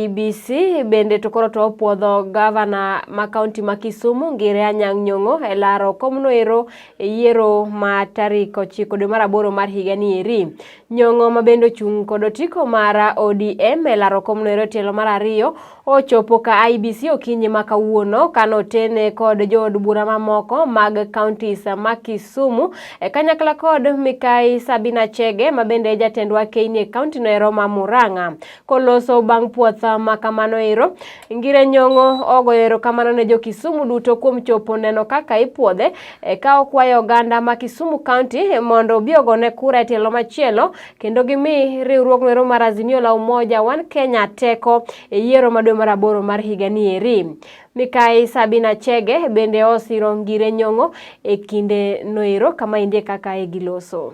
BBC bende to koro to opuodho gavana ma kaunti ma Kisumu Ngire Anyang' Nyong'o e laro komno ero e yiero ma tarik ochiko dwe mar aboro mar higa ni eri. Nyong'o ma bende ochung' kod otiko mar ODM e laro komno ero e tielo mar ariyo ochopo ka IBC okinyi ma kawuono kane otene kod jood bura mamoko mag kauntis ma Kisumu e kanyakla kod mikai Sabina Chege ma bende e jatendwa Keini e kaunti no ero ma Murang'a. koloso bang' puoth ma kamano ero. Ngire Nyong'o ogoyo erokamano ne jo Kisumu duto kuom chopo neno kaka ipuodhe e ka okwayo oganda ma Kisumu County mondo obi ogone kura e tielo machielo kendo gimi riwruogno ero mar Azimio la Umoja One Kenya teko e yiero ma dwe mar aboro mar higa ni eri. Mikai Sabina Chege bende osiro Ngire Nyong'o e kinde noero kama indie kaka e giloso.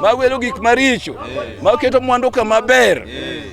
mawelo gik maricho maketo mwandu kama ber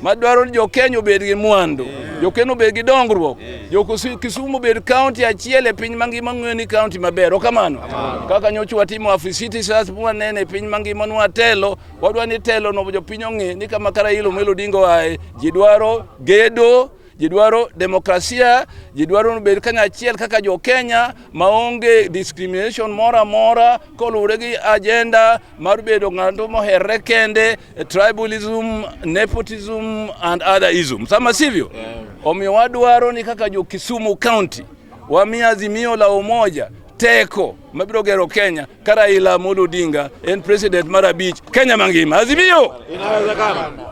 madwaro ni jokenya obed gi mwandu jokenya obed gi dongruok jokisumu obed kaunti achiel e piny mangima ng'eyo ni kaunti maber okamano kaka nyocha watimo afisiti sas mwanene e piny mangima nwatelo wadwa ni telo no jopiny ong'e ni kama kara ilo melo dingo aye ji dwaro gedo ji dwaro demokrasia, ji dwaro ni bed kanyachiel kaka jo Kenya maonge discrimination moro amora koluwore gi agenda mar bedo ng'ato moherre kende, tribalism, nepotism and other ism. Sama sivyo? Omiyo wadwaro ni kaka jo Kisumu County wami Azimio la Umoja teko mabiro gero Kenya ka Raila Amolo Odinga en president mar abich Kenya mangima. Azimio! Inawezekana.